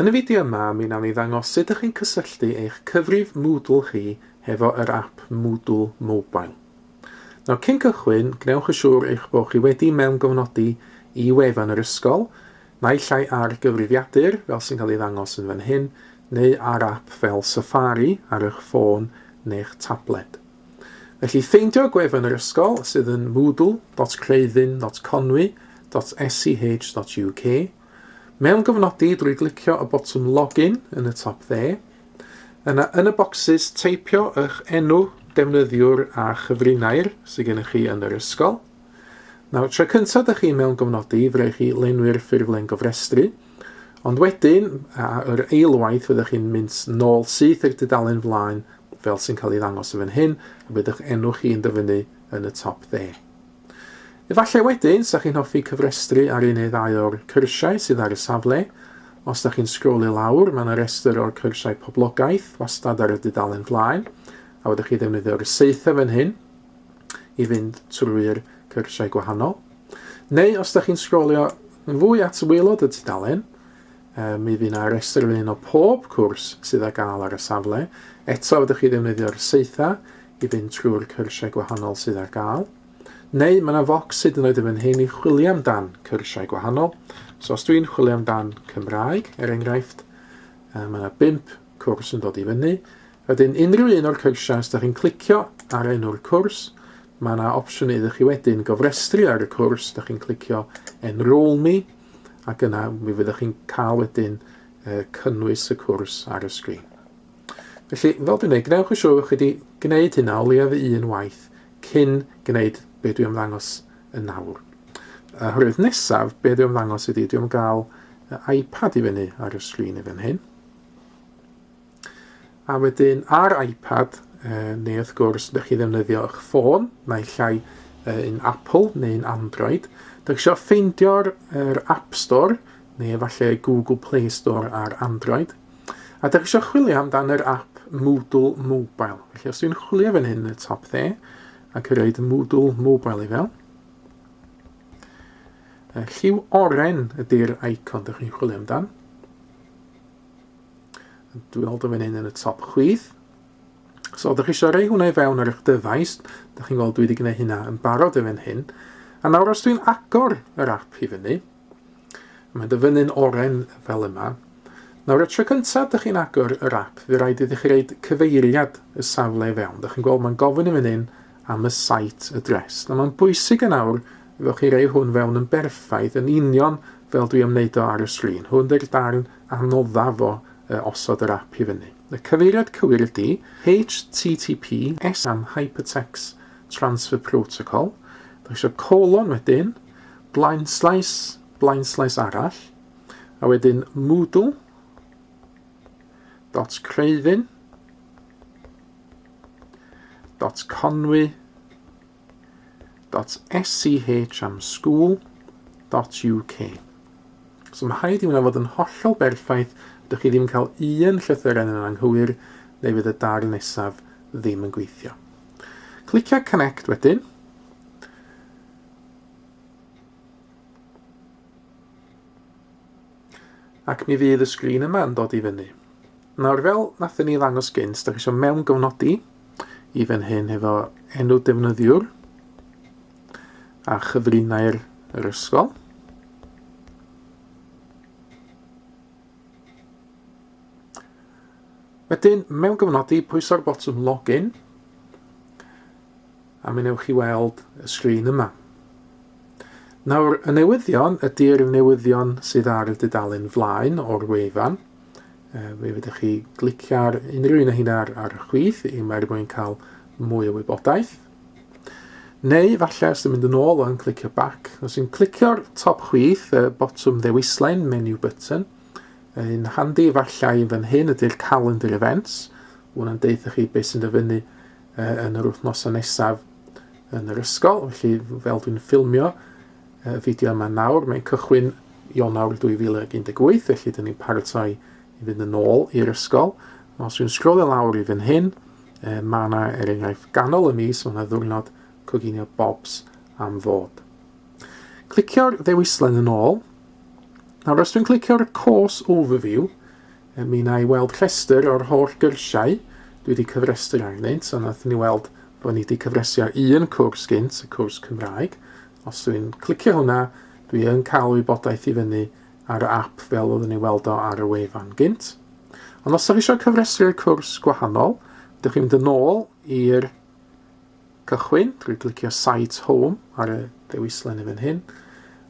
Yn y fideo yma, mi wnawn ni ddangos sut ydych chi'n cysylltu eich cyfrif Moodle chi hefo yr app Moodle Mobile. Nawr, cyn cychwyn, gwnewch yn siŵr eich bod chi wedi mewngofnodi i wefan yr ysgol, naill ai ar gyfrifiadur, fel sy'n cael ei ddangos yn fan hyn, neu ar app fel Safari ar eich ffôn neu'ch tabled. Felly ffeindio'r gwefan yr ysgol sydd yn moodle.creuddyn.conwy.sch.uk, mewngofnodi drwy glicio y botwm Login yn y top dde, yna yn y bocsys teipio eich enw defnyddiwr a chyfrinair sydd gennych chi yn yr ysgol. Nawr, tro cyntaf da chi mewn gofnodi, fe rhaid chi lenwi'r ffurflen gofrestru, ond wedyn, a yr eilwaith, fyddwch chi'n mynd nôl syth i'r dudalen flaen fel sy'n cael ei ddangos yn fan hyn, a bydd eich enw chi yn dyfynnu yn y top dde. Efallai wedyn, sa chi'n hoffi cyfrestru ar un neu ddau o'r cyrsiau sydd ar y safle. Os da chi'n sgrolio lawr, mae yna restr o'r cyrsiau poblogaeth wastad ar y dudalen flaen, a wedwch chi ddefnyddio'r seitha fan hyn, i fynd trwy'r cyrsiau gwahanol. Neu os da chi'n sgrolio yn fwy at waelod y tudalen, um, mi fydd yna restr yr un o pob cwrs sydd â gael ar y safle. Eto, ydych chi ddefnyddio'r seitha i fynd trwy'r cyrsiau gwahanol sydd ar gael. Neu mae yna focs hyd yn oed yn fan hyn i chwilio amdan cyrsiau gwahanol. So os dwi'n chwilio amdan Cymraeg, er enghraifft, mae yna bimp cwrs yn dod i fyny, Wedyn unrhyw un o'r cyrsiau os da chi'n clicio ar enw'r cwrs, mae yna opsiwn iddo chi wedyn gofrestru ar y cwrs, da chi'n clicio Enrol Me ac yna mi fyddwch chi'n cael wedyn uh, cynnwys y cwrs ar y sgrin. Felly, fel dwi'n ei, gwnewch yn siŵr bod chi wedi gwneud hynna o leiaf un waith cyn gwneud be dwi'n ymddangos yn nawr. Oherwydd nesaf, be dwi'n ymddangos ydy, dwi'n gael iPad i fyny ar y sgrin i fan hyn. A wedyn ar iPad, uh, neu wrth gwrs, ydych chi ddefnyddio eich ffôn, naill llai uh, yn Apple neu yn Android, ydych eisiau ffeindio'r er App Store, neu efallai Google Play Store ar Android, a ydych eisiau chwilio amdan yr app Moodle Mobile. Felly os dwi'n chwilio fan hyn y top dde, ac yn rhaid Moodle Mobile i fel, lliw oren ydy'r icon ydych chi'n chwilio amdan, Dwi'n hold yn fan hyn yn y top chwith. So, ydych chi eisiau rei hwnna i fewn ar eich dyfais. Ydych chi'n gweld dwi wedi gwneud hynna yn barod yn fan hyn. A nawr os dwi'n agor yr app i fyny, mae'n dyfynnu'n oren fel yma. Nawr, y tro cyntaf ydych chi'n agor yr app, fe rhaid iddi chi reid cyfeiriad y safle i fewn. Ydych chi'n gweld mae'n gofyn i fan hyn am y site address. Nawr mae'n bwysig yn awr efo chi rei hwn fewn yn berffaith yn union fel dwi am wneud o ar y sgrin. Hwn dy'r darn anoddaf o uh, osod yr app i fyny. Y cyfeiriad cywir ydy HTTPS am Hypertext Transfer Protocol. Da eisiau colon wedyn, blaen slaes, blaen slaes arall, a wedyn Moodle dot creifyn www.conwy.sch am school.uk. So mae rhaid i hwnna fod yn hollol berffaith, ydych chi ddim yn cael un llythyren yn anghywir, neu fydd y darn nesaf ddim yn gweithio. Clicio Connect wedyn. Ac mi fydd y sgrin yma yn dod i fyny. Nawr fel nathon ni ddangos gynt, da chi eisiau mewn gyfnodi i fan hyn hefo enw defnyddiwr a chyfrinau'r yr ysgol. Wedyn, mewn gyfnodi, pwyso'r botwm login. A mi wnewch chi weld y sgrin yma. Nawr, y newyddion ydy'r newyddion sydd ar y dudalen flaen o'r wefan. E, fe fydych chi glicio ar unrhyw un o hyn ar, ar y chwith i mae'r mwyn cael mwy o wybodaeth. Neu, falle, os ydym mynd yn ôl o'n clicio back, os yw'n clicio'r top chwith, y botwm ddewislen, menu button, yn handi efallai yn fan hyn ydy'r calendar events, hwnna'n deutha chi beth sy'n dyfynnu uh, yn yr wythnosau nesaf yn yr ysgol, felly fel dwi'n ffilmio y fideo yma nawr, mae'n cychwyn Ionawr 2018, felly dyn ni'n paratoi i fynd yn ôl i'r ysgol. Os yw'n sgrolio lawr i fynd hyn, uh, mae yna er enghraifft ganol y mis, mae yna ddwrnod coginio bobs am fod. Clicio'r ddewislen yn ôl. Nawr, os dwi'n clicio'r course overview, Yy, mi wna i weld rhestr o'r holl gyrsiau dwi wedi cyfrestru arnynt, a wnaethon ni weld bod ni wedi cyfresu ar un cwrs gynt, y cwrs Cymraeg. Os dwi'n clicio hwnna, dwi yn cael wybodaeth i fyny ar y app fel oeddwn ni weld o ar y wefan gynt. Ond os ydych chi eisiau cyfresu'r cwrs gwahanol, ydych chi'n mynd yn ôl i'r Cychwyn drwy glicio Site Home ar y dewislen yn fan hyn,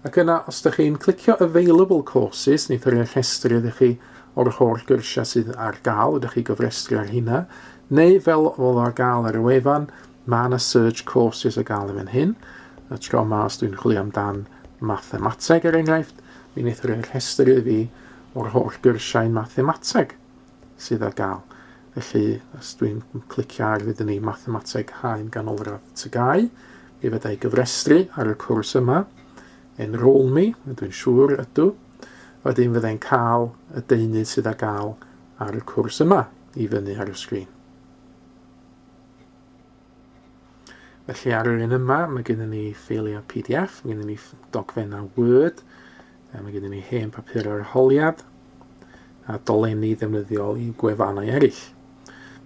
ac yna os ydych chi'n clicio Available Courses, neith yr rhestru ydych chi o'r holl gyrsiau sydd ar gael, ydych chi gyfrestru ar hynna, neu fel oedd ar gael ar y wefan, mae yna Search Courses ar gael yn fan hyn, y tro yma os dwi'n chwilio amdan mathemateg er enghraifft, mi wneith yr rhestru fi o'r holl gyrsiau mathemateg. sydd ar gael. Felly, os dwi'n clicio ar fyd ni Mathemateg Haen Ganolradd Tygau, mi fydda i gyfrestru ar y cwrs yma. Enrol mi, dwi'n siŵr ydw. Wedyn fydda i'n cael y deunydd sydd ar gael ar y cwrs yma i fyny ar y sgrin. Felly ar yr un yma, mae gennym ni ffeiliau PDF, mae gennym ni dogfennau Word, a mae gennym ni hen papur ar holiad, a dolenni ddefnyddiol i gwefannau eraill.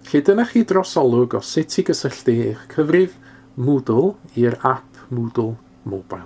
Felly dyna chi drosolwg o sut i gysylltu eich cyfrif Moodle i'r app Moodle Mobile.